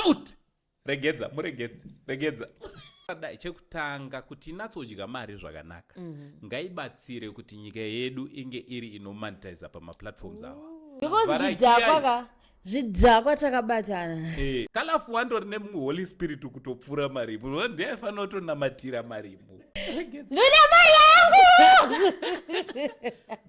out regedza muregedze regedza dai chekutanga kuti inatsodya mari zvakanaka mm -hmm. ngaibatsire kuti nyika yedu inge iri inomonetiza pamaplatforms awa because zvidhakwa ka zvidhakwa takabatana eh, kalafu wandori nemumwe holy spirit kutopfuura marimu ndiyaifanira kutonamatira marimu ndoda mari yangu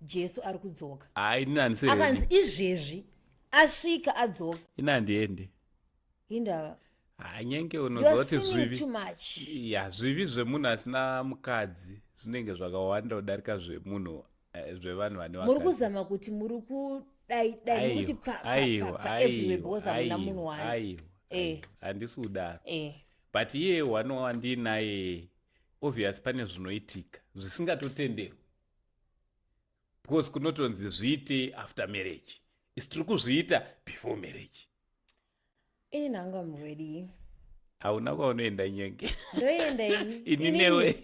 jesu ari kudzoka hayi ninanisaakanzi izvezvi asvika adzoka ina handiende indava hanyenge unozoti zvivi ya zvivi zvemunhu asina mukadzi zvinenge zvakawanda kudarika zvemunhu eh, zvevanhu vane muri kuzama kuti muri kudaidai kuti pfaaiwaaevewebeozauna munhu waiwo eh. handisi kudaro eh. but iye wanowa ndiinaye obvious pane zvinoitika zvisingatotenderwi because kunotonzi zviite after marriage is tiri kuzviita before marriage ini nanga mready hauna kwaunoenda nyenge ndoenda ini newe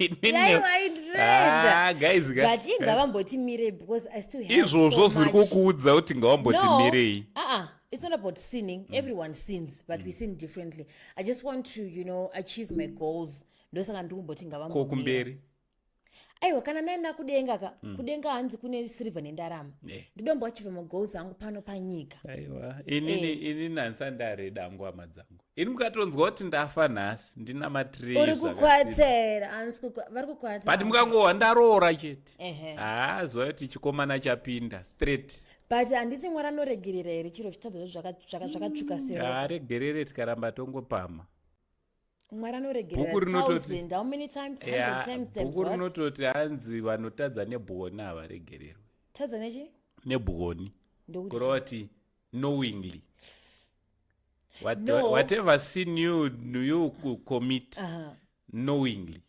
ah, guys but ingavambotimirei because i still have izvozvo zviri kukuudza kuti ngavambotimirei no. uh -uh it's not about sinning mm. everyone sins but mm. we sin differently i just want to you know achieve my goals ndosaka ndiri kumboti ngavambo kumberi aiwa kana naenda kudenga ka mm. kudenga hanzi kune sirivha nendarama eh. ndidombo achiva magoals angu pano panyika aiwa inini eh. ini nansandare dangu hama dzangu ini mukatonzwa kuti ndafa nhasi ndina matiri uri kukwatera vari kukwatera but mukangohwa ndaroora chete haa zuva yoti chikomana chapinda straight but handiti mwari anoregerera here chiro zvitadza zvakatsvuka searegerere tikaramba tongopama mwari anoregererabhuku rinototi hanzi vanotadza nebwoni havaregererwe tadza nechi nebwoni kureva kuti knowingly What, no. whatever sin you you commit uh -huh. knowingly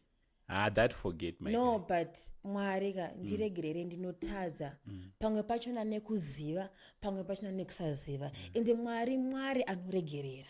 ah, that forget my no guy. but mwari ka mm. ndiregerere mm. ndinotadza mm. pamwe pachona nekuziva pamwe pachona nekusaziva mm. ende mwari mwari anoregerera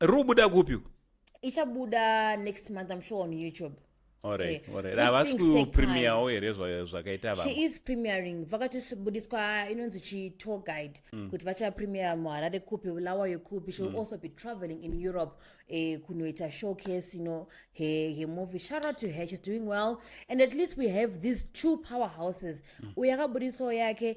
riri kubuda kupi uku ichabuda next month i'm sure on youtube Okay. Alright, alright. Those havasi things take kupremiyawo here zva- zvakaita she vamwe is premiering vakatobudiswa inonzi chitour guide kuti vachapremier muharare kupi bulawayo kupi she will also be traveling in europe eh, kunoita showcase you know her, her movie shout out to her she's doing well and at least we have these two powerhouses uyu akabuditsawo yake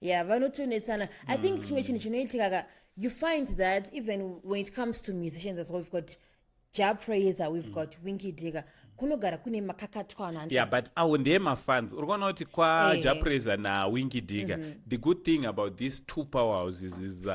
yeah vanotonetsana i think mm. chimwe chinhu chinoitika ka you find that even when it comes to musicians as well we've got ja praiser we've mm. got winky digger kunogara kune makakatwana yeah but awo ndeye mafans uri kuona kuti kwa hey. Eh. ja praiser nawinky digger mm -hmm. the good thing about these two power houses is uh,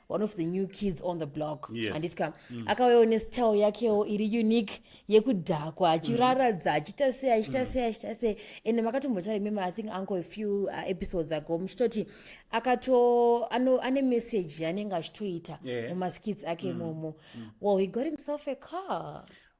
one of the new kids on the block yes. anditya mm. akauyawo nestyle yakewo iri unique yekudhakwa achiraradza achiita sei achiita mm. sei achiita sei and makatombotaura imimi i think uncle a few uh, episodes ago muchitoti akato ane message yaanenge achitoita mumaskits ake mm. imomo mm. well he got himself a car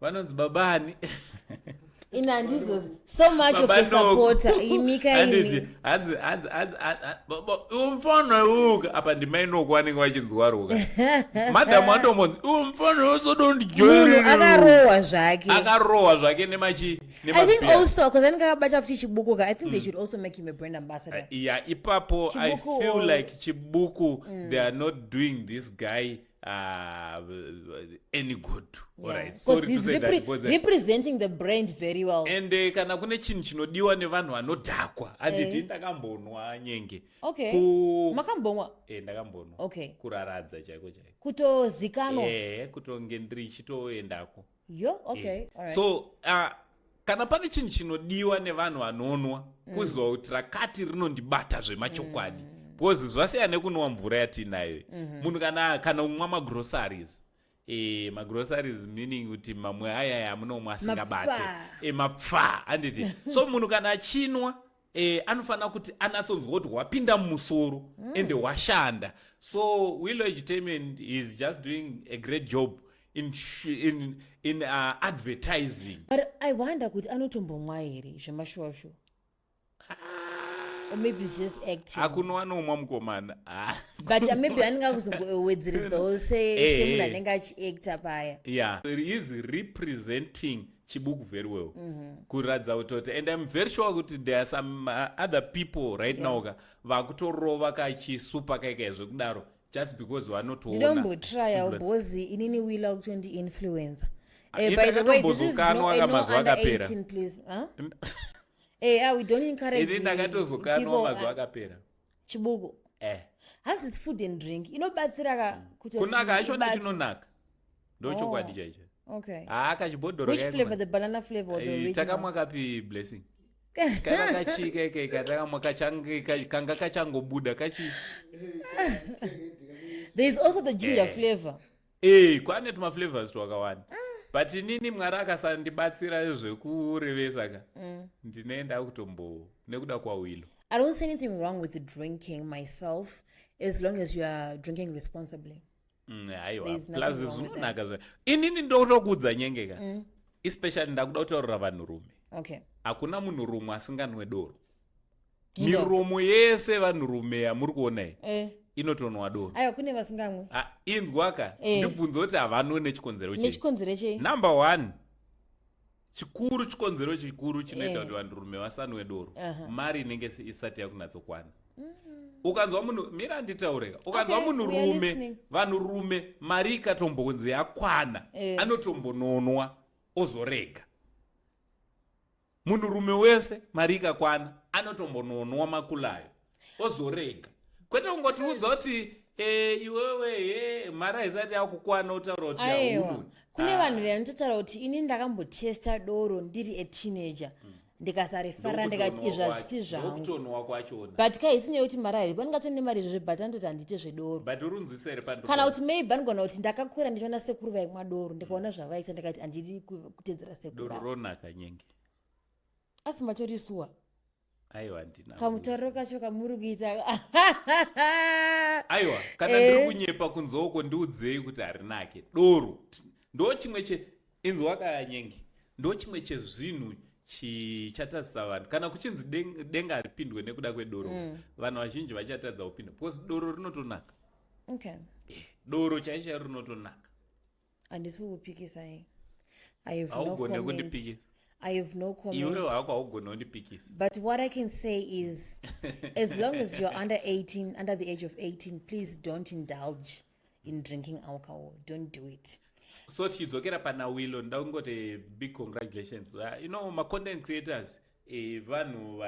vanonzi baba ani ini handizozi so much of a supporter imikaini hanzi hanzi hanzi umfana uka apa ndimai noku vanenge vachinzwa ruka madam watomonzi umfana usodondijoimunhu akarohwa zvake akarohwa zvake nemachi i think also bcause anenge akabata futi chibuku ka i think they mm. should also make him a brand ambassador uh, yeah ipapo i feel like chibuku mm. they are not doing this guy uh, any good representing the brand very well and uh, kana kune chinhu chinodiwa nevanhu vanodhakwa anditi eh. ndakambonwa nyenge makambonwa eh, ndakambonwa kuraradza chaiko chaiko kutozikanwa eh, kutonge ndichitoendako yo okay eh. All right. so uh, kana pane chinhu chinodiwa nevanhu vanonwa mm. kuziva kuti rakati rinondibata zvemachokwadi mm. because zvasiya nekunwa mvura yatiinayo mm-hmm. munhu kana kana umwa magroceries e, magroceries meaning kuti mamwe ayaya amunomwa asingabati e, mapfa handiti so munhu kana achinwa eh, anofanira kuti anatsonzwa kuti hwapinda mumusoro mm. and hwashanda so willow entertainment is just doing a great job in, in, in uh, advertising but i wonder kuti anotombomwa here zvemashuwashuwa or maybe it's just acting akunowa noumwa mukomana ah. but uh, maybe anenge akuzongowedzeredzawo eh, semunhu eh. anenge achiacta paya yeah he is representing chibuku very well mm -hmm. kuratidza kutoti and im very sure kuti there are some uh, other people right yeah. now ka vakutorova kachisupa kaika zvekudaro just because vanotoonandinombotrya bhozi inini wila kutondi influencer ah, eh, by the way this is no, no under 18 please huh? eh, ah, we don't encourage ndakatozokanwa mazuva akapera chibuku eh hanzi it's food and drink inobatsira ka mm. kuti kunaka hachoda chinonaka ndochokwadi oh. chaicho okay haa ah, kachibhodhoro which flavor the banana flavor or the eh, original takamwa kapi blessing kana kachika ikaika takamwa kanga kachangobuda kachi there is also the ginger eh. flavor Hey, eh, kwane tuma flavors twakawanda ah. but inini mwari akasandibatsira zvekurevesa ka mm. ndine ndakutombo nekuda kwawilo i don't see anything wrong with drinking myself as long as you are drinking responsibly mm, aiwaplus zvinonaka zva inini ndotokuudza nyenge ka mm. especially ndakuda kutaurira vanhurume okay hakuna munhurume asinganwe doro miromo yese vanhurume yamuri kuonai eh. inotonwa doro aiwa kune vasingamwe ah, inzwaka eh. ndibvunze kuti havanwe nechikonzero nechikonzero chei number one chikuru chikonzero chikuru chinoita eh. kuti eh. vanhurume vasanwe doro uh -huh. mari inenge isati yakunatsokwana mm -hmm. ukanzwa munhu mira nditaureka ukanzwa okay, munhu rume vanhurume mari ikatombonzi yakwana eh. anotombononwa ozorega Munhurume wese mari ikakwana anotombononwa makulayo ozorega kwete kungotiudza kuti Eh, iwewe eh, mari haisati yakukwana utaura kuti aewa kune ah. vanhu vanototaura kuti ini ndakambotesta doro ndiri ateenager mm. ndikasarifara ndikati izvi hazvisi zvangubuti kaisi nyaya yekuti mari airipo ndingatoni nemari izvozvo but anototi handiite zvedoro kana kuti maybe anogona kuti ndakakura ndichiona sekuru vaikumwa doro ndikaona zvavaiita ndikati handidi kutedzera sekuronaka nyenge asi matorisuwa aiwa ndina kamutariro kacho kamuri kuita aiwa kana eh. ndiri kunyepa kunzoko ndiudzei kuti harinake doro ndo chimwe che inzwa kanyenge ndo chimwe chezvinhu chichatadzisa vanhu kana kuchinzi denga haripindwe nekuda kwedoro mm. vanhu vazhinji vachatadza kupinda because doro rinotonaka okay. Eh, doro chaisha rinotonaka handisi kukupikisa i have no comment i have no commentwe hako haugoni kundipikisa but what i can say is as long as you're under 18 under the age of 18 please don't indulge in drinking alcohol don't do it so tichidzokera pana willo nda kungoti big congratulations uh, you know macontent creators eh, vanhu uh,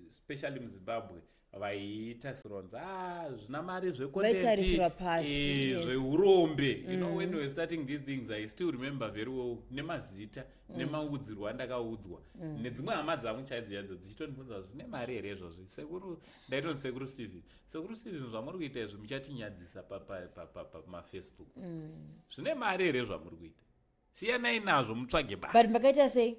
especially muzimbabwe uh, vaiita sironza ah, zvina mari zvevaitarisira pasi eh, zveurombe yes. you know mm. when we starting these things i still remember very well nemazita mm. nemaudzirwo andakaudzwa mm. nedzimwe hama dzangu chaidzo yadzo dzichitondibvunza zvine mari here izvozvo sekuru ndaitonzi sekuru stephen sekuru stephen zvamuri kuita izvi muchatinyadzisa pamafacebook pa, pa, pa, mm. zvine mari here zvamuri kuita siyanai nazvo mutsvage basi but makaita sei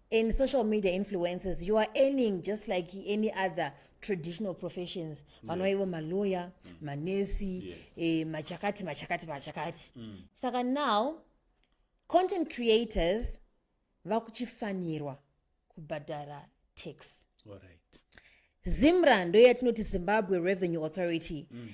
in social media influences you are earning just like any other traditional professions vanoa yes. ivo maloya mm. manesi yes. eh, machakati machakati machakati mm. saka now content creators vakuchifanirwa kubhadhara tax right. zimra ndoyatinoti zimbabwe revenue authority mm.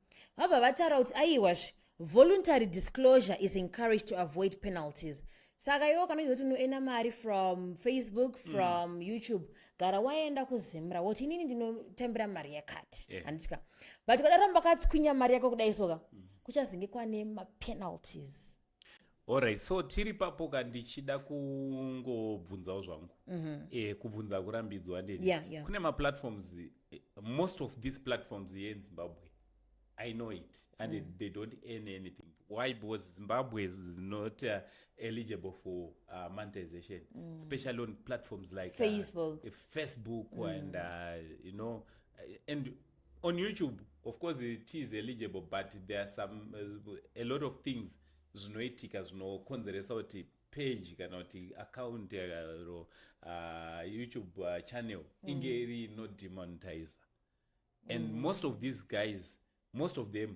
vabva vataura kuti aiwazve voluntary disclosure is encouraged to avoid penalties saka iwo kanoita kuti unoenda mari from facebook mm. from mm. youtube gara waenda kuzimra woti inini ndinotambira mari yakati eh. handitika yeah. but kadaro mbakatswinya mari yako kudai soka mm. kuchazenge kwane mapenalties Alright, so tiri papo ka ndichida kungobvunzawo zvangu mm -hmm. eh, kubvunza akurambidzwa ndini yeah, yeah. kune maplatforms eh, most of these platforms here in zimbabwe i know it and mm. they don't earn anything why because zimbabwe is not uh, eligible for uh, monetization mm. especially on platforms like uh, facebook uh, facebook mm. and uh, you know uh, and on youtube of course it is eligible but there are some uh, a lot of things zvinoitika zvinokonzeresa kuti page kana kuti account ro uh, youtube uh, channel mm. inge iri no demonetizer and mm. most of these guys most of them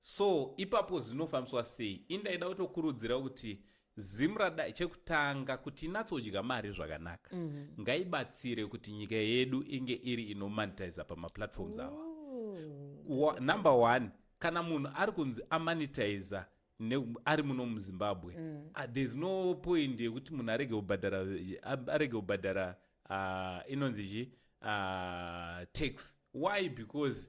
So ipapo zvinofambiswa sei? Ini ndaida kutokurudzira kuti Zimra dai chekutanga kuti inatsodya mari zvakanaka mm -hmm. ngaibatsire kuti nyika yedu inge iri inomonetiza pamaplatforms awa Wa, number one kana munhu ari kunzi amonetiza ari muno muzimbabwe mm. uh, there's no point yekuti munhu arege kubhadhara arege kubhadhara uh, inonzi chi uh, tax why because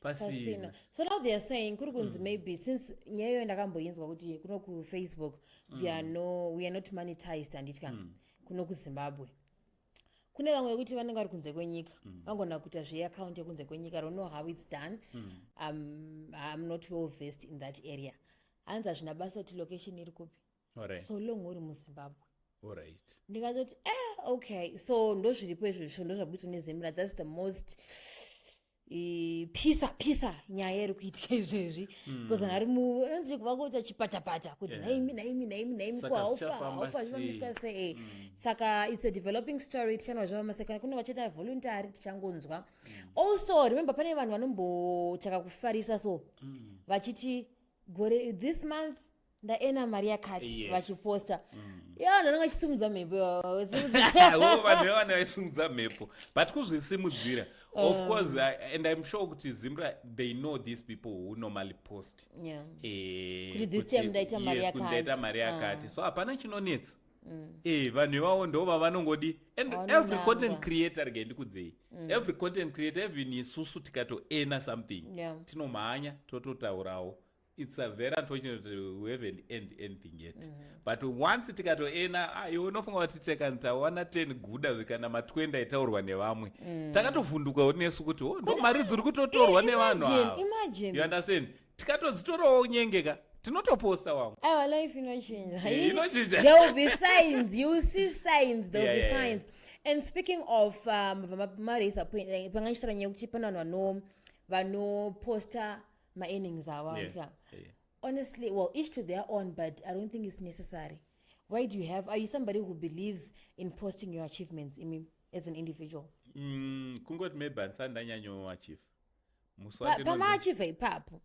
pasina so now theyare saying kuri kunzi mm. maybe since nyaya iyoyo ndakamboinzwa kuti kuno kufacebook mm. there are no we are not monetized handitya mm. kuno kuzimbabwe kune vamwe vekuti vanenge vari kunze kwenyika mm. vangona kuita zveaccount yekunze kwenyika don't know how its done mm. um, iam not well vest in that area hanzi hazvina basa kuti location iri kupi right. so long uri muzimbabwe right. ndikatoti eh, okay so ndozviripo izvozvo ndozvabutswa nezemura thats the most eh, pisa pisa nyaya iri kuitika izvezvi hmm. bcause vanhu ari muanzi kuva kuita chipatapata kuti naimi naimi naimi naimi ko haufa haufa zvinomisika sei hmm. saka its a developing story tichanwa zvava masekana kune vachaita voluntary tichangonzwa hmm. also remember pane vanhu vanombotaka kufarisa so vachiti gore this month ndaena mari yakati Yes. vachiposta yo vanhu vanenge vachisimudza mhepo Wo, vanhu vevana vaisimudza mhepo but kuzvisimudzira of Um. course I- and i'm sure kuti zimra they know these people who normally post Yeah. Eh, Kuti this kuti- time ndaita mari yes, kuti yakati. ndaita mari Ah. Mm. yakati so hapana chinonetsa Eh, vanhu ivavo ndo vavanongodi and Vanonanga. every content creator rege ndikudzei Mm. every content creator even isusu tikatoena something Yeah. tinomhanya tototaurawo it's a very unfortunate we haven't end anything yet mm -hmm. but once tikatoena ah, iwe unofunga kuti tekan tawana 10 guda zvikana ma20 aitaurwa nevamwe mm. takatovhundukawo nesu kuti oh, no mari dziri kutotorwa nevanhu ava you understand tikatodzitorawo nyenge ka tinotoposta wangu aiwa life inochinja eh, inochinja there will be signs you see signs there will yeah, be yeah, signs yeah. and speaking of um, vamaraisa panga ndichitaura nyaya yekuti pane vanhu vanoposta maearnings avo anti yeah. yeah. honestly well each to their own but i don't think it's necessary why do you have are you somebody who believes in posting your achievements imi as an individual mm, kungoti maybe handisati ndanyanyoachieve pamaachieve ipapo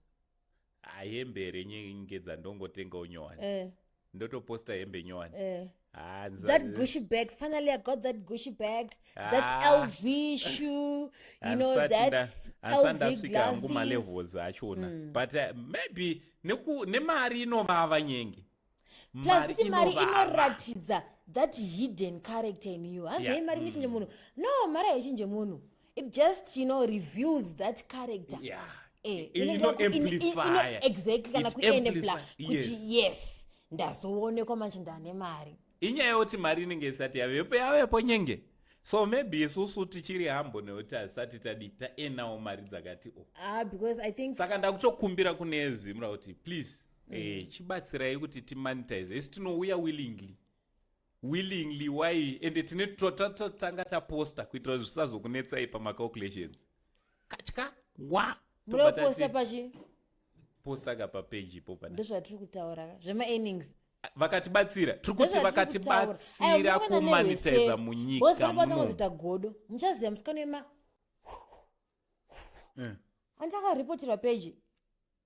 hembe here nyenge dzandongotengawo nyowani eh. ndotoposta hembe nyowani eh. Ah, that gushy bag finally i got that gushy bag ah. that lv shoe you know that lvndasvika hangu malevels achona mm. but uh, maybe nemari inovava nyenge plus kuti mari inoratidza that hidden character in you hanzi yeah. mari inochinje mm. munhu no mari haichinje munhu it just you know reveals that character yeah. eh, exactly kana kuenepla kuti yes ndazoonekwa manje ndane mari inyaya yekuti mari inenge isati yavepo yavepo nyenge so maybe isusu tichiri hambo nekuti hasati tadi taenawo mari dzakati o ah, saka ndakutokumbira kune zimura kuti please mm. eh, chibatsirai kuti timonetize isi tinouya willingly willingly why ende tine tanga taposta kuitira zvisazokunetsai pamacalculations katya wa munoposta pachi posta ka papeji ipo pana ndozvatiri kutaura ka zvemaearnings vakatibatsira tiri kuti vakatibatsira kumanitiza munyika munozoita godo muchaziva musikano yema eh. andakaripoterwa peji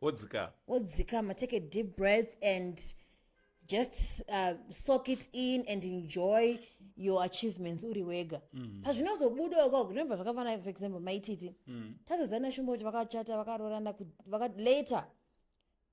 wodzikama wodzikama take a deep breath and just uh, soak it in and enjoy your achievements uri wega mm. pazvinozobuda uko remember zvakafana for example maititi mm. tazozana shumba kuti vakachata vakarorana later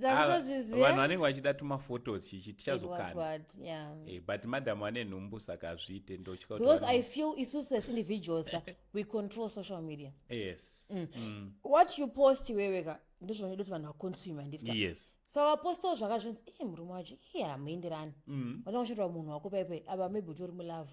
tazozviziva vanhu vanenge vachida tumaphotos chichi tichazokana yeah. hey, eh, but madam ane nhumbu saka azviite ndotya because i feel isusu as individuals ka we control social media yes mm. Mm. what you post iwewe ka ndozvinoda kuti vanhu vaconsume handiti yes saka wapostawo zvakazvinzi e eh, murume wacho iye eh, hamuenderani mm. vanoda kuchitwa munhu wako paipai ava maybe utori mulove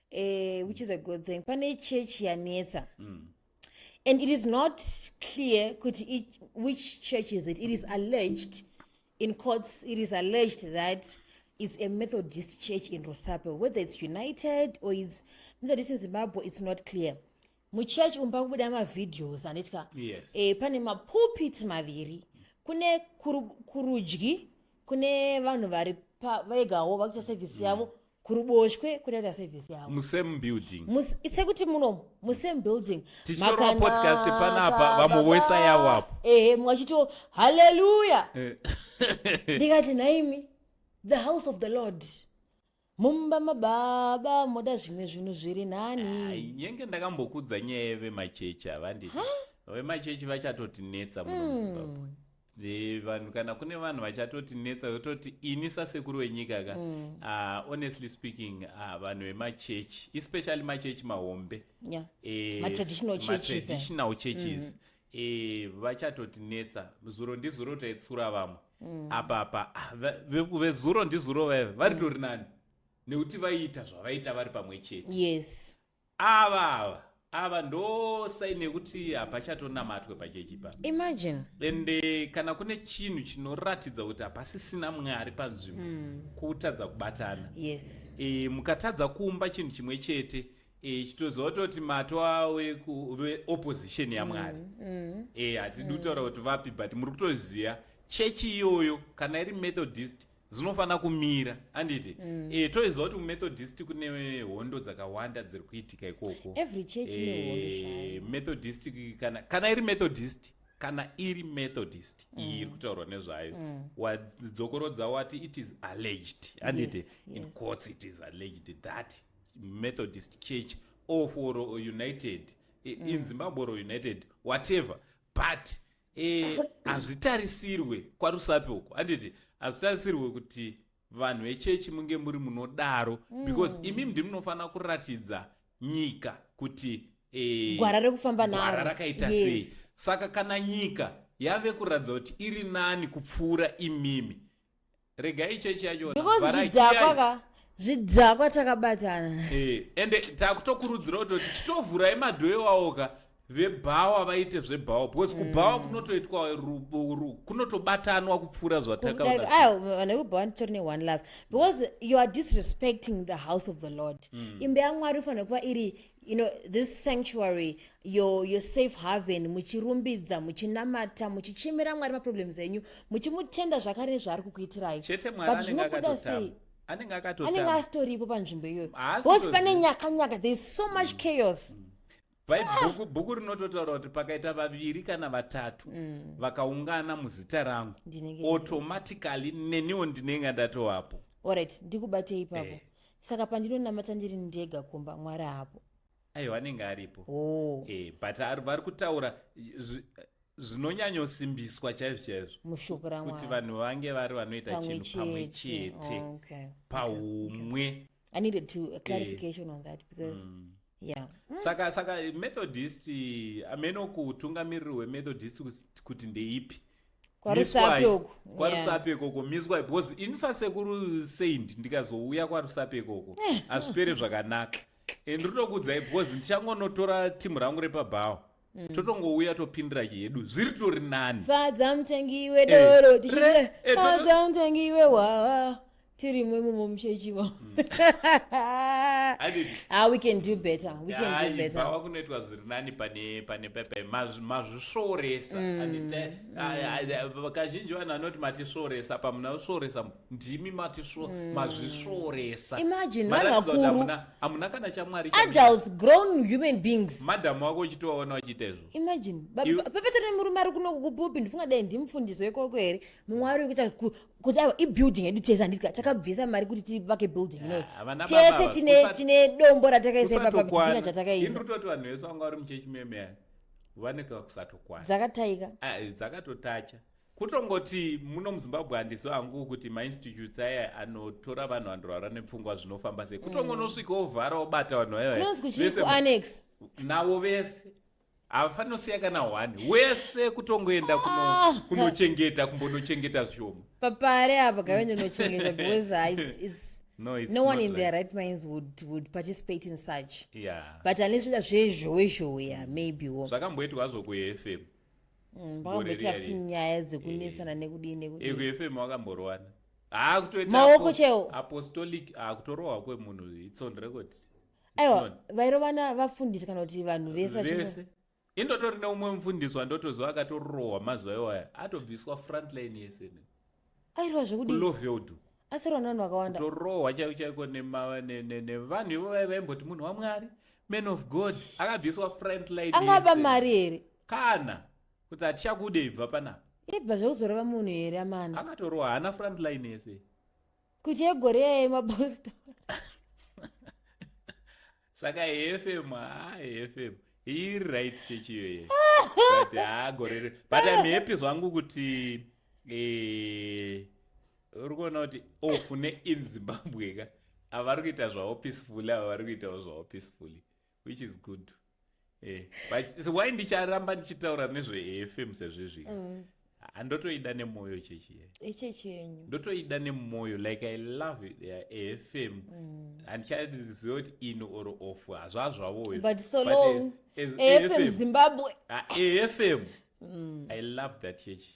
eh, which is a good thing pane church yanetsa mm. and it is not clear kuti it, which church is it it is alleged in courts it is alleged that it's a methodist church in rosapo whether it's united or it's methodist in zimbabwe it's not clear muchurch umu pakubuda mavideos anditika yes. eh, pane mapulpit maviri kune kurudyi kune vanhu vari vegawo vakuita sevhisi mm. yavo mm kuruboshwe kunoita service yavo musame building Mus- sekuti munomu musame building Tichitorwa Makanaka. podcast panapa, vamwe wese yavo apo. ehe mumwe achito haleluya Eh, ndikati nhaimi the house of the lord mumba mababa moda zvimwe zvinhu zviri ai, nani nyenge ndakambokudza nyaya yevemachechi havanditi vemachechi vachatotinetsa muno muzimbabwe Eh, vanhu kana kune vanhu vachatoti netsa vototi ini sasekuru wenyika ka mm. uh, honestly speaking uh, vanhu vemachechi especially machechi mahombe yeah. eh, matraditional churches, eh. churches mm. eh, vachatoti netsa zuro ndizuro taitsura vamwe mm. apapa ah, vezuro ndizuro vaive varitori mm. nani nekuti vaiita zvavaita vari pamwe chete yes ava ava ava ndosai nekuti hapachatonamatwe pachechi pa imagine and eh, kana kune chinhu chinoratidza kuti hapasisina mwari panzvimbo mm. kutadza kubatana yes e, mukatadza kumba chinhu chimwe chete e, chitoziva kutoti mato awe opposition yamwari mm. mm. e, hatidi mm. kutaura kuti vapi but muri kutoziva chechi iyoyo kana iri methodist zvinofanira kumira anditi mm. e, eh, toiziva kuti kumethodist kune hondo dzakawanda dziri kuitika ikoko eh, methodist kana, kana iri methodist kana iri methodist mm. iyi iri kutaurwa nezvayo mm. wadzokorodza wati it is alleged anditi yes, yes. in courts it is alleged that methodist church or for united mm. in zimbabwe or united whatever but e, hazvitarisirwe kwarusape uko handiti hazvitarisirwe kuti vanhu vechechi munge muri munodaro mm. because imi ndi munofanira kuratidza nyika kuti e, gwara rekufamba naro rakaita yes. sei saka kana nyika yave kuratidza kuti iri nani kupfuura imimi regai chechi yachona because zvidhakwa ka zvidhakwa takabatana eh, ende takutokurudzira kuti kuti titovhurai madhoe wawo ka vebhawa vaite zvebhawa because kubhawa mm. kunotoitwa kunotobatanwa kupfuura zvatakaane kubhawa nditori neone love because you are disrespecting the house of the lord mm. imbe yamwari ufanira kuva iri you know this sanctuary your, your safe haven muchirumbidza muchinamata muchichemera mwari maproblems enyu muchimutenda zvakare nezvaari kukuitirai chete mwari zvinobuda sei anenge akatoanenge asitoripo panzvimbo iyoyo bcause pane nyakanyaka there is so much mm. chaos mm. bhaibhuku bhuku rinototaura kuti pakaita vaviri kana vatatu mm. vakaungana muzita rangu automatically neniwo ndinenge ndatovapo orit ndikubatei ipapo eh. saka pandinonamata ndiri ndega kumba mwari hapo aiwa anenge aripo oh. e, but vari kutaura zvinonyanyosimbiswa chaizvo chaizvo mushoko rakuti vanhu vange vari vanoita chinhu pamwe chete oh, okay. paumwe okay. i needed to a eh. clarification e. on that because mm. Yeah. Mm. saka saka methodist ameno kutungamiriri wemethodist kuti ndeipi kwarusape uko kwarusape ikoko miswai because ini sasekuru saint ndikazouya kwarusape ikoko hazvipere zvakanaka and rinokuudzai because ndichangonotora timu rangu repabhawa mm. totongouya topindira yedu zviri tori nani fadza mutengi wedoro eh, eh, fadza mutengi wehwaa tirimwe mumo muchechiwo hmm. ah, we can do better we can do better bhawa kunoitwa zviri nani pane pane pepe mazvisvoresa hmm. hmm. kazhinji vanhu vanoti matisvoresa pamuna usvoresa ndimi matisvo mazvisvoresa imagine vanhu vakuru hamuna kana chamwari adults grown human beings madhamu wako uchitovaona uchiita izvo imagine pepe tiri murume ari kuno kupulpit ndifunga dai ndimufundisi wekoko here mumwe ari kuita kuti aiwa ibuilding yedu tese handiti ka takabvisa mari kuti tivake building ineyi Yeah, havana tese baba, tine usat- tine dombo ratakaisa ipapa chitina kusatokwana chatakaisa ini toti vanhu vese vanga vari muchechi meme vane kakusatokwana dzakataika Ah, dzakatotacha kutongoti muno muzimbabwe handisi vangu kuti mainstitutes aya anotora vanhu vanorwara nepfungwa zvinofamba sei kutongonosvika ovhara obata vanhu vaya vaya. kunonzi kuchii Vese- kuannex navo vese havafanosiya kana one wese kutongoenda ah. kunochengeta kumbonochengeta zvishoma papare apa gavende nochengeta because its No, it's no one in like... their right minds would would participate in such yeah. but unless uda zvezhowe zhowe ya maybe wo zvakamboitwa hazvo kufm mm, vakamboita futi nyaya dzekunetsana eh. nekudii nekudii eh, kufm wakamborowana haakutoita maoko cheo apostolic haakutorohwa kwemunhu its on record aiwa vairovana vafundisi kana kuti vanhu vese vese indotori neumwe mufundisi wandotoziva akatorohwa mazuva iwaya atobviswa frontline yese airova zvekudiloveld asirovana vanhu vakawanda torohwa chaiko chaiko nevanhu ivo vaiva vaimboti munhu wamwari man of god akabviswa frontline angaba mari here kana kuti hatichakude ibva panapa ibva zvekuzoreva munhu here amana akatorohwa haana frontline yese kuti egore yaya yemapostori saka efm haa efm iri right chechi iyoye but haa gore ri but im happy zvangu kuti eh, uri kuona kuti off neinzimbabwe ka avari kuita zvavo peacefully ava vari kuitawo zvavo peacefully which is good eh, but so why ndicharamba ndichitaura nezvefm sezvizvi mm. andotoida nemwoyo chechi echechi eh, yenyu ndotoida nemwoyo like i love it yeah, afm mm. handichaiziva kuti in or off hazvazvavoyo but so but long afm, eh, afm zimbabwe afm ah, mm. i love that chechi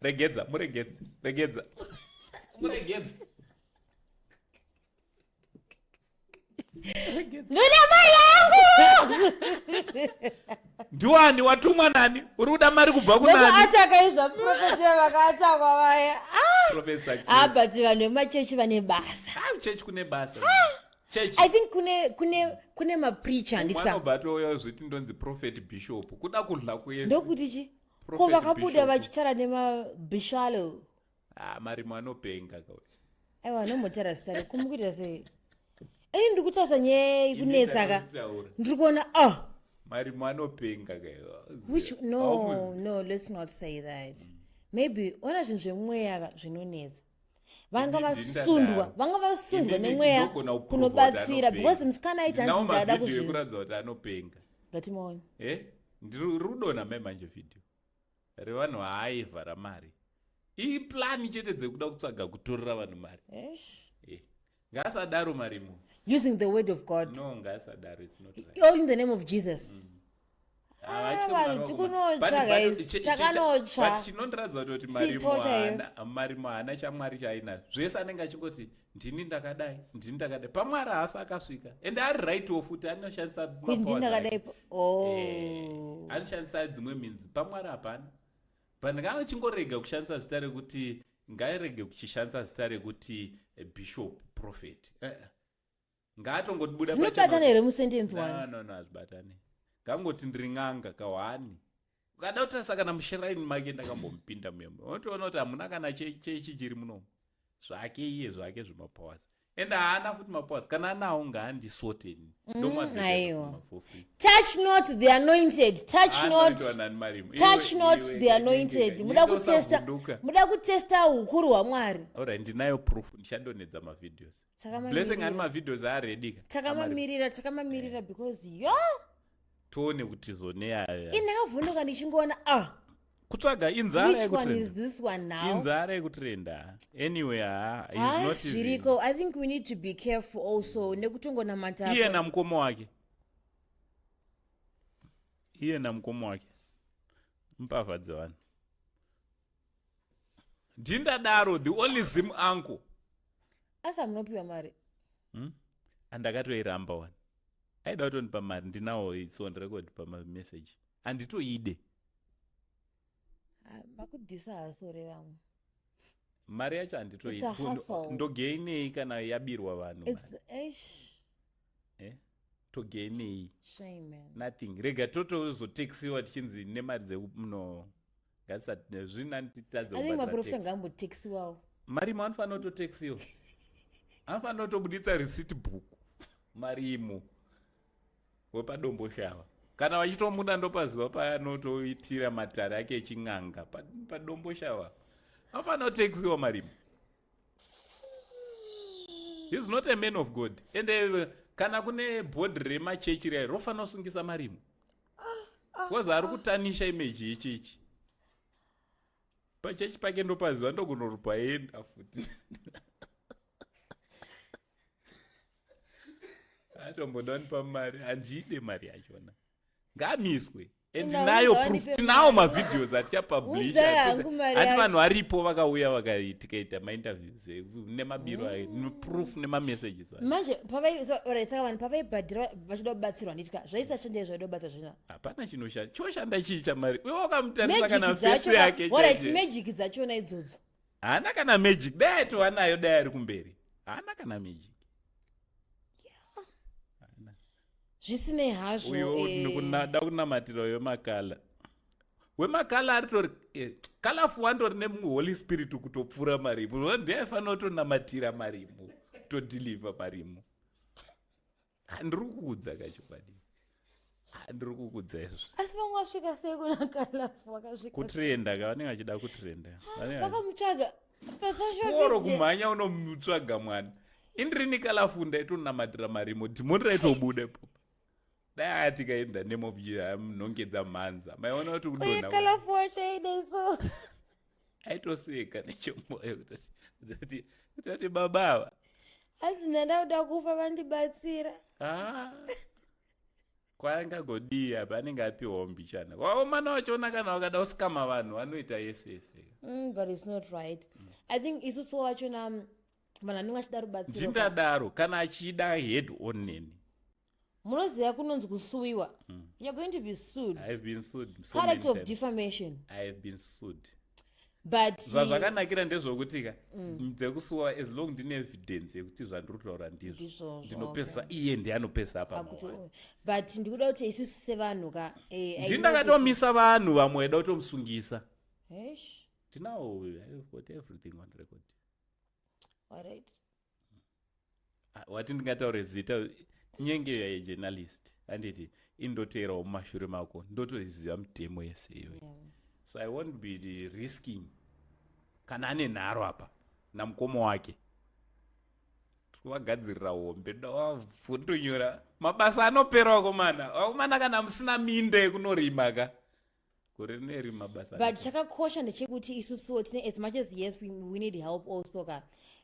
regedza muregedze regedza muregedze ndoda mari yangu ndiwani watumwa nani uri kuda mari kubva kunaniataka izva profesa vakatakwa vaya ah, but vanhu vemachechi vane basa ah, chechi kune basa i think kune kune kune mapreacher nditobva touya zviti ndonzi prophet bishop kuda kudla kuendokuti chi ko vakabuda vachitara nemabishalo ah, marimo anopenga aiwa anombotaura zita rako mukuita sei ei ndiri kutarisa nyaya yei kunetsa ka ndiri kuona o oh. marimo anopenga kaiwhich no no let's not say that maybe ona zvinhu zvemweya ka zvinonetsa vanga vasundwa vanga vasundwa nemweya kunobatsira because musikana aiti hanzi ndada kuzvikuratidza kuti anopenga ndatimaona e ndiri kudona mai manje vhidhiyo revanhu vaaiva ramari iplani chete dzekuda kutsvaga kutorera vanhu mari ngaasadaro marimo using the word of god no ngaasadaro it's not right all in the name of jesus mm. chinondiratidza kuti marimo haana chamwari chaainazvo zvese anenge achingoti ndini ndakadai ndini ndakadai pamwari haafi akasvika ende ari rightwo futi anoshandisa oh. eh, anoshandisa dzimwe minzi pamwari hapana but ndanga achingorega kushandisa zita rekuti ngaarege kuchishandisa zita rekuti eh, bishop prophet eh, eh. ngaatongotibuda zvinobatana here musentenzi wanonona hazvibatane ngangoti ndiri n'anga kawani ukada kutarisa kana mushiraini make ndakambomupinda muya unotoona kuti hamuna kana chechi chiri munomu zvake iye zvake zvemapowers and haana futi mapoas kana anawo ngaandisote ini mm, ndomaeatouch not the anointed touch not touch not the anointed muda kutesta muda kutesta ukuru hwamwari alright ndinayo proof ndichandonedza mavideos blessing ani mavideos aredika takamamirira takamamirira because yo tione kuti zoneaya ini ndakavhunduka ndichingoona ah kutsvaga inzarainzara yekutrenda anyway hazviriko ah, i think we need to be careful also nekutongonamata iye namukoma wake iye namukoma wake mbavha dzevanhu ndindadaro the only zim anko asi amunopiwa mari hmm? andakatoiramba wani aida kutondipa mari ndinawo its on record pamamessage anditoide makudhisa hasore vamwe mari yacho handitoindogainei kana yabirwa vanhu eh? togainei nothing rega totozotexiwa tichinzi nemari dzekuno ngatisazvinanititadzeaprofita ngaambotexiwawo marimo anofanira kutotexiwa anofanira kutobuditsa receipt book marimo wepadombo shava kana vachitomuda ndopaziva paanotoitira matare ake echin'anga padombo shava anofanira kutexiwa marimo he's not a man of god ende kana kune bhodhi remachechi rai rofanira kusungisa marimo bcause ari kutanisha imeji yechechi pachechi pake ndopaziva ndokunorupa enda futi atombodani pamari handide mari yachona ngamiswe and nayo proof tinawo mavhideos atichapublisha hati vanhu varipo vakauya vakatikaita mainterviews nemabiro ayo mm. proof nemamessages ayo manje pavaisaka vanhu pavaibhadhira vachida kubatsirwa nditika zvaisashandei zvaida kubatsirwa zvino hapana chinoshanda choshanda chii chamari iwe wakamutarisa kana fesi yake orit magic dzachona idzodzo haana kana magic dai aitova nayo dai ari kumberi haana kana magic zvisinei hazvo uyo eh. dakunamatira uyo makala wemakala aritori eh, kalafu wandori nemumwe holy spirit kutopfuura marimu ndiaifanira kutonamatira marimu kutodeliver marimu handiri kuudza kachokwadi handiri kuudza izvo asi vamwe vasvika sei kuna kalafu vakasvika kutrenda ka vanenge vachida kutrenda vakamutsvaga sikoro kumhanya unomutsvaga mwana indirini kalafu ndaitonamatira marimo dhimoni raitobuda ipopa dai atika in the name of nongedza mhanza maiona kuti kudonakalafu wacho aidaiso aitoseka nechomoyo kutoti kutoti baba ava hanzi ndandakuda kufa vandibatsira ah. kwaangagodii apa anenge apiwa mbichana waomana wachiona kana wakada usikama vanhu vanoita yese yese mm, but it's not right mm. i think isusu wachona um, vanhu anenge achida rubatsiro ndindadaro kana achida head on neni munoziva kunonzi kusuwiwa mm. you're going to be sued i've been sued so character of defamation i've been sued but zvazvakanakira ndezvokutika mm. dzekusuwa as long ndine evidence yekuti zvandiri kutaura ndizvo ndinopesa okay. iye ndiye anopesa apa but ndikuda kuti isusu sevanhu ka eh, ndi ndakatomisa vanhu vamwe vaida kutomusungisa tinawo got everything on record alright Ah, wati ndingataure zita nyenge yejournalist handiti indoteerawo mumashure mako ndotoziva mitemo yese iyoyi yeah. so i won't be risking kana ane nharo apa namukoma wake vagadzirira hombe ndavavhundonyora mabasa anopera wakomana wakomana kana musina minda yekunorima ka gore rino iri mabasa but chakakosha ndechekuti isusuwo tine as much as yes we, we need help also ka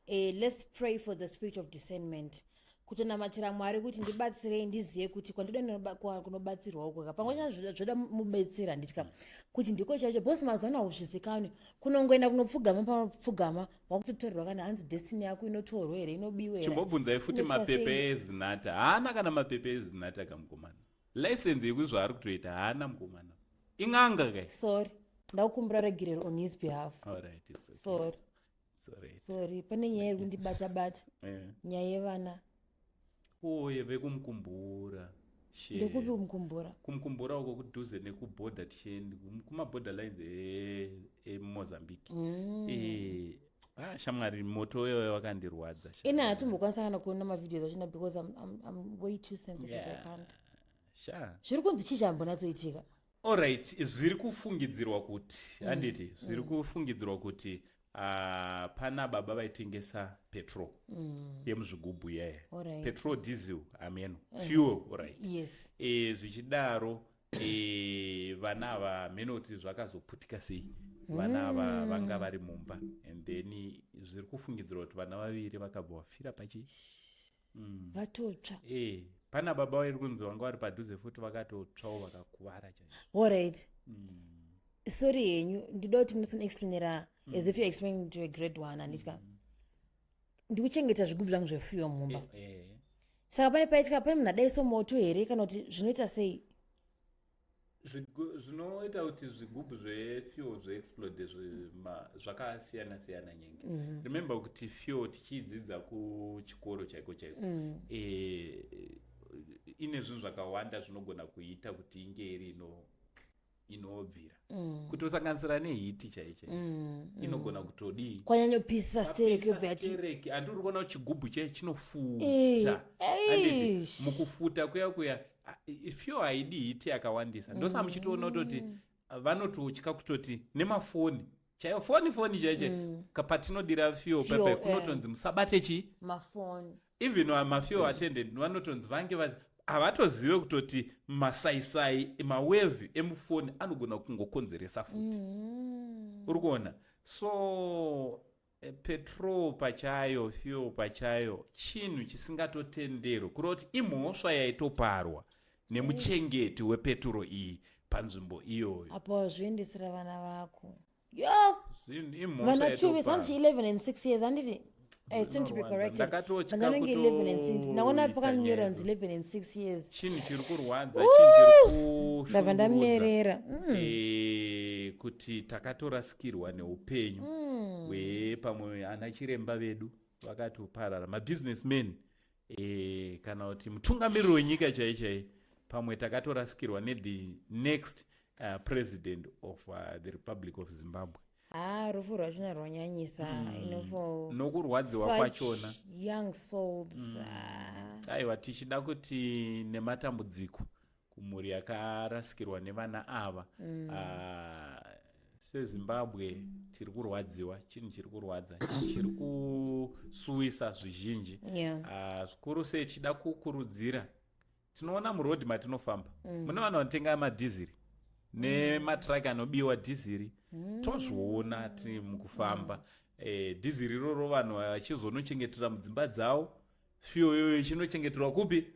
uh, let's pray for the spirit of discernment kutonamatira mwari kuti ndibatsirei ndizive kuti kwandoda kunobatsirwa uko ka pamwe chana zvoda mubetseri handitya mm. kuti ndiko chaicho bcause mazuva ano hauzvizikanwi kunongoenda kunopfugama pamapfugama wakutotorerwa kana hanzi destiny yako inotorwa here inobiwa here chimbobvunzai futi mapepe ezinata haana kana mapepe ezinata kamukomana license yekuti zvaari kutoita haana mukomana in'anga kai sorry ndakukumbira regerero on his behalf alright it's okay. sorry It's alright. sorry pane nyaya iri kundibata bata Eh. nyaya yevana uye vekumukumbura Shit. ndekupi umukumbura kumukumbura uko kudhuze nekuborder tichiende kum- kumaborder lines e- emozambique Mm. Eh, Ah, shamwari moto wewe wakandirwadza ina hatimbokwanisa kana kuona mavideos achina because I'm, I'm, I'm way too sensitive yeah. i can't sha zviri kunzi chii chambonatsoitika allright zviri kufungidzirwa kuti mm. handiti mm. zviri mm. kufungidzirwa kuti uh, pana baba vaitengesa petrol mm. yemuzvigubhu yeye right. petrol diesel ameno mm. fuel allright yes. e, zvichidaro Eh, vana ava mheno kuti zvakazoputika sei vana ava hmm. vanga vari mumba and then zviri kufungidzirwa kuti vana vaviri vakabva vafira pachi hmm. vatotsva eh, pana baba vairi kunzi vanga vari padhuze futi vakatotsvawo vakakuvara chaio alright hmm. sorry henyu ndida kuti munosonoexplainera as if you're explaining to a grade one handitya ndikuchengeta zvigubhu zvangu zvefuyo mumba eh, eh. saka pane paitya pane munhu adaiso moto here kana kuti zvinoita sei zvinoita kuti zvigubhu zvefuel zveexplode zvakasiyana siyana nyenge mm -hmm. remember kuti fuel tichiidzidza kuchikoro chaiko chaiko mm. e, ine zvinhu zvakawanda zvinogona kuita kuti inge iri ino inobvira mm. kutosanganisira nehiti chaicho mm, mm. inogona kutodii kwanyanyopisa sterekekereke andi uri kuona chigubhu chai chinofuta mukufuta kuya kuya fyo haidi hiti yakawandisa ndosaka muchitoona kutoti vanototya kutoti nemafoni chaiyo foni foni chaiche mm. patinodira fuel pepe kunotonzi eh. musabate chi mafoni even mafuel attendant vanotonzi vange vazi havatozive kutoti masaisai mawevhi emufoni anogona kungokonzeresa futi mm. uri kuona so eh, petrol pachayo fuel pachayo chinhu chisingatotenderwe kureva kuti imhosva yaitoparwa nemuchengeti wepeturo iyi panzvimbo iyoyo apo wazviendesera vana vako yo vana chuve zanditi 11 and 6 years anditi eh, ndakatotyandinenge 11 and 6 ndaona pakanyora nzi 11 and 6 years chinhu chiri kurwadza ndabva ndamerera mm. eh, kuti takatorasikirwa neupenyu mm. wepamwe ana chiremba vedu vakatoparara mabusiness man e, kana kuti mutungamiriri wenyika chai chai pamwe takatorasikirwa nethe next uh, president of uh, the republic of zimbabwe haa ah, rufu rwachona rwanyanyisa mm. nokurwadziwa kwachona young souls mm. Ah. aiwa tichida kuti nematambudziko kumhuri yakarasikirwa nevana ava mm. uh, sezimbabwe tiri kurwadziwa chinhu chiri kurwadza chinhu chiri kusuwisa zvizhinji yeah. uh, zvikuru sei tichida kukurudzira tinoona murodhi matinofamba mm. mune vanhu vanotenga madhiziri nematraki anobiwa dhiziri mm. tozviona tiri mukufamba mm. eh, dhiziri iroro vanhu vachizonochengetera mudzimba dzavo fiyo iyoyo chinochengeterwa kupi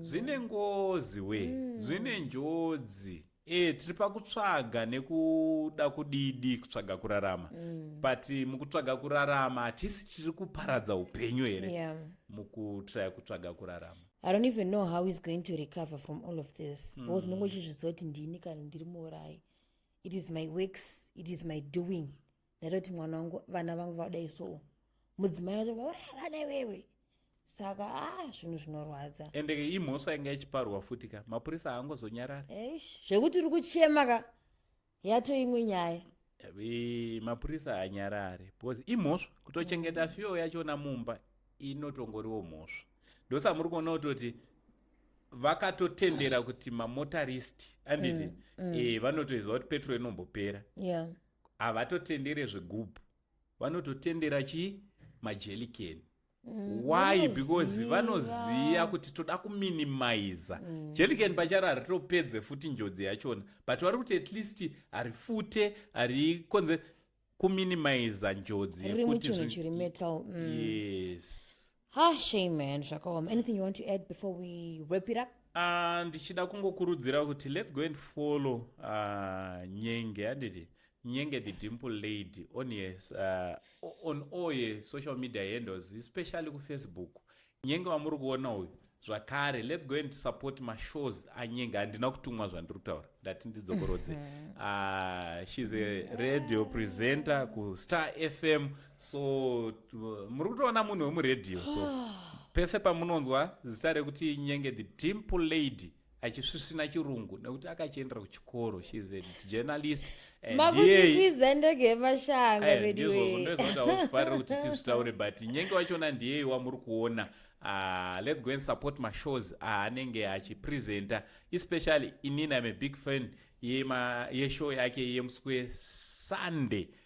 zvine ngozi we mm. zvine njodzi e, tiri pakutsvaga nekuda kudidi kutsvaga kurarama mm. but mukutsvaga kurarama hatisi tiri kuparadza upenyu here yeah. mukutraya kutsvaga kurarama i don't even know how is going to recover from all of this mm. because ndinongo uchizviziva kuti ndini kana ndiri muurayi it is my works it is my doing ndaitoti mwana wangu vana vangu vadai soo mudzimai wacho vaura havana iwewe saka a ah, zvinhu zvinorwadza ende ke imhosva inga ichiparwa futi ka mapurisa haangozonyarari eish zvekuti uri kuchema ka yato imwe nyaya mapurisa haanyarari because imhosva kutochengeta mm. fiyo yachona mumba inotongoriwo mhosva ndosamuri kuona kutoti vakatotendera kuti mamotarist anditi mm, mm. Eh, vanotoiziva kuti petro inombopera yeah. havatotendere zvegubhu vanototendera chii majelikeni mm, why because vanoziva kuti toda kuminimiza mm. jeliken pacharo haritopedze futi njodzi yachona but vari kuti at least harifute harikonze kuminimiza njodzi yekuti mm. yes Ha shame man zvakaoma. Anything you want to add before we wrap it up? Ah, ndichida kungokurudzira kuti let's go and follow uh, nyenge adidi nyenge the dimple lady on her, uh, on all her social media handles especially kufacebook nyenge wamuri kuona uyu zvakare let's go and support mashows anyenga handina kutumwa zvandiri kutaura ndati ndidzokorodze uh, shes a radio presenter kustar fm so muri kutoona munhu wemuradio so pese pamunonzwa zita rekuti nyenge the dimple lady achisvisvina chirungu nekuti akachiendera kuchikoro shes a journalist makutikwidza ndege yemashanga eh, veduweeofarira kuti tizvitaure but nyenge wachona ndiyeyi wamuri kuona Uh, let's go and support mashows aanenge ah, achipresenta especially inini im a big fan yeshow yake yemusi wesunday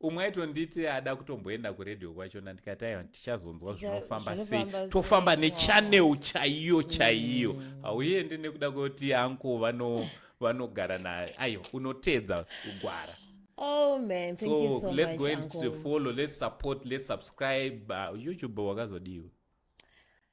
umwe aitonditi ada kutomboenda kuradio kwachona ndikati aiwa tichazonzwa zvinofamba sei tofamba nechanel chaiyo chaiyo mm. hauendi nekuda kwekuti anko vano vanogara naye aiwa unoteedza kugwara Oh man, thank so, you so let's much, go and uncle. follow, let's support, let's subscribe. Uh, YouTube wakazodiwa.